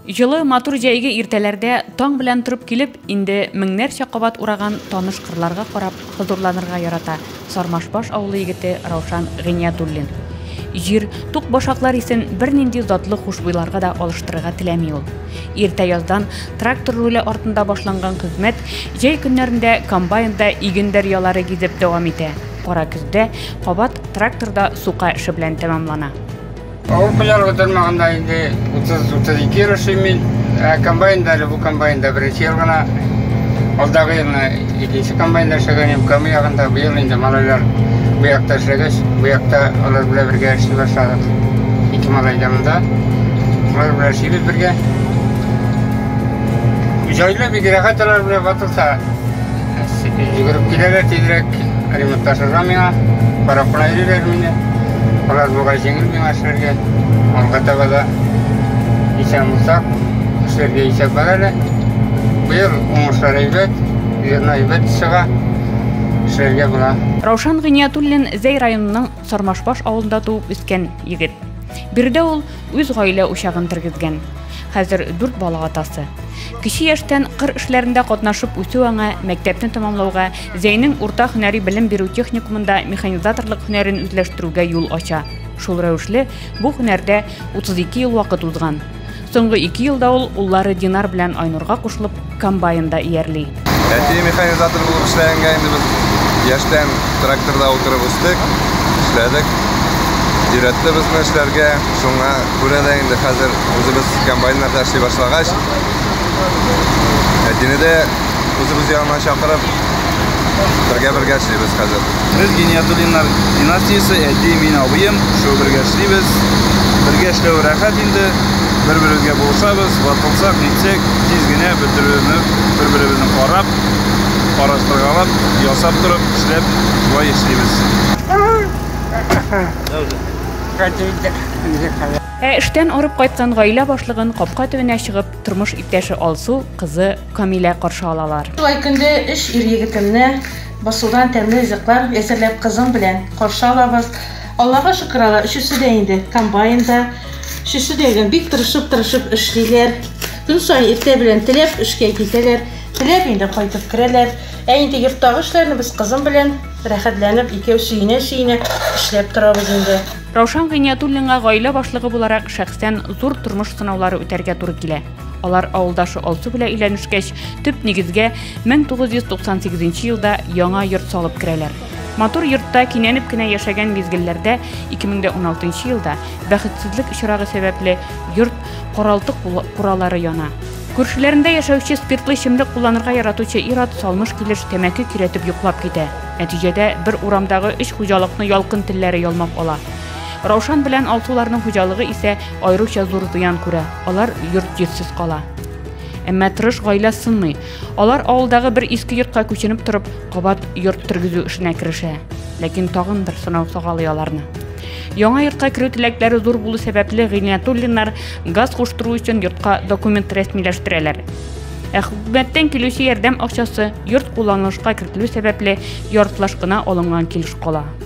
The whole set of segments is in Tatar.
Җылы, матур җәйге иртәләрдә таң белән торып килеп, инде меңнәрчә кабат ураган таныш кырларга карап хозурланырга ярата Сармашбаш авылы егете Раушан Гыйниятуллин. Җир, тук башаклар исен бернинди затлы хушбуйларга да алыштырырга теләми ул. Иртә яздан трактор руле артында башланган хезмәт җәй көннәрендә комбайнда иген дәрьялары гизеп дәвам итә, кара көздә кабат тракторда сука эше белән тәмамлана. Авыл хуҗалыгы тармагында инде 30-32 ел эшлим мин. Ә комбайнда әле бу комбайнда беренче ел гына. Алдагы елны икенче комбайнда эшләгән идем. Кама ягында быел инде малайлар бу якта эшләгәч, бу якта алар белән бергә эшли башладык. Ике малай да монда. Алар белән эшлибез бергә. Җайлы бик рәхәт алар белән ватылса. Йөгереп киләләр тизрәк, ремонтта сыза миңа, карапына йөриләр мине. Бераз бугай җиңел миңа эшләргә. Алга таба да исән булсак, эшләргә исәп бар әле. Быел уңышлар әйбәт, зерно әйбәт чыга, эшләргә була. Раушан Гыйниятуллин Зәй районының Сармашбаш авылында туып үскән егет. Биредә ул Үз гаилә учагын тергезгән. Хәзер дүрт бала атасы. Кече яшьтән кыр эшләрендә катнашып үсү аңа мәктәпне тәмамлауга, Зәйнең урта һөнәри белем бирү техникумында механизаторлык һөнәрен үзләштерүгә юл ача. Шул рәвешле бу һөнәрдә 32 ел вакыт узган. Соңгы ике елда ул уллары Динар белән Айнурга кушылып, комбайнда иярли. Әти механизатор булып эшләгәнгә инде без яшьтән тракторда утырып үстек, эшләдек. Өйрәтте безне эшләргә. Шуңа күрә дә инде хәзер үзебез комбайннарда эшли башлагач, әтине дә үзебез янына чакырып, бергә-бергә эшлибез хәзер. Без Гиниятуллиннар династиясе, әти, мин, абыем, шуы бергә эшлибез. Бергә эшләү рәхәт инде, бер-беребезгә булышабыз, ватылсак, нитсәк, тиз генә бөтеребезне бер-беребезне карап, караштыргалап, ясап торып, эшләп, шулай эшлибез. Ә эштән арып кайткан гаилә башлыгын капка төбенә чыгып, тормыш иптәше Алсу, кызы Камилә каршы алалар. Шулай көндә өч ир-егетемне Борсудан тәмле ризыклар әзерләп кызым белән каршы алабыз. Аллага шөкер алар өчесе дә инде комбайнда. Өчесе дә гел бик тырышып-тырышып эшлиләр. Көн саен иртә белән теләп эшкә китәләр, теләп инде кайтып керәләр. Ә инде йорттагы эшләрне без кызым белән рәхәтләнеп икәү сөенә-сөенә эшләп торабыз инде. Раушан Гыйниятуллинга гаилә башлыгы буларак шәхсән зур тормыш сынаулары үтәргә туры килә. Алар авылдашы Алсу белән өйләнешкәч, төп нигезгә 1998 елда яңа йорт салып керәләр. Матур йортта кинәнеп кенә яшәгән мизгелләрдә 2016 елда бәхетсезлек очрагы сәбәпле йорт каралты куралары яна. Күршеләрендә яшәүче спиртлы эчемлек кулланырга яратучы ир-ат салмыш килеш тәмәке көйрәтеп йоклап китә. Нәтиҗәдә бер урамдагы өч хуҗалыкны ялкын телләре ялмап ала. Раушан белән Алсуларның хуҗалыгы исә Аеруча зур зыян күрә, алар йорт-җирсез кала. Әмма тырыш гаилә сынмый. Алар авылдагы бер иске йортка күченеп торып, кабат йорт тергезү эшенә керешә. Ләкин тагын бер сынау сагалый аларны. Яңа йортка керү теләкләре зур булу сәбәпле Гыйниятуллиннар газ куштыру өчен йортка документ рәсмиләштерәләр. Ә хөкүмәттән килүче ярдәм акчасы йорт кулланылышка кертелү сәбәпле яртылаш кына алынган килеш кала.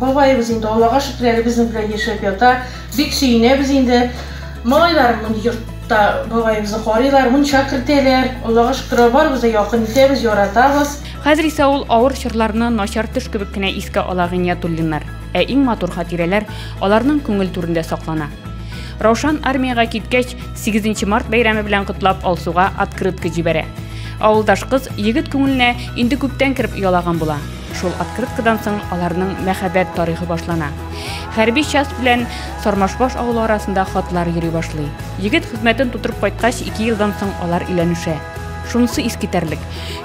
Бабаебыз инде, Аллага шөкер, әле безнең белән яшәп ята. Бик сөенәбез инде. Малайлар моны йортта бабаебызны карыйлар, мунча кертәләр. Аллага шөкер, барыбыз да якын итәбез, яратабыз. Хәзер исә ул авыр чорларны начар төш кебек кенә искә ала Гыйниятуллиннар. Ә иң матур хатирәләр аларның күңел түрендә саклана. Раушан армиягә киткәч, сигезенче март бәйрәме белән котлап Алсуга открытка җибәрә. Авылдаш кыз егет күңеленә инде күптән кереп оялаган була. Шул открыткадан соң аларның мәхәббәт тарихы башлана. Хәрби часть белән Сармашбаш авылы арасында хатлар йөри башлый. Егет хезмәтен тутырып кайткач, ике елдан соң алар өйләнешә. Шунысы искитәрлек.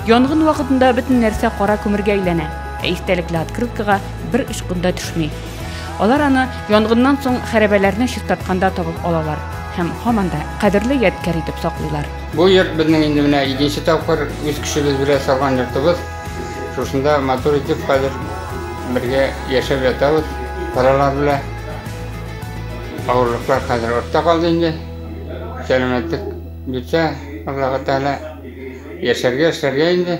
Янгын вакытында бөтен нәрсә кара күмергә әйләнә, ә истәлекле открыткага бер очкын да төшми. Алар аны янгыннан соң хәрәбәләрне чистартканда табып алалар һәм һаман да кадерле ядкәр итеп саклыйлар. Бу йорт безнең инде менә икенче тапкыр үз көчебез белән салган йортыбыз. Шушында матур итеп хәзер бергә яшәп ятабыз балалар белән. Авырлыклар хәзер артта калды инде. Сәламәтлек бирсә, Аллаһы Тәгалә яшәргә, эшләргә инде.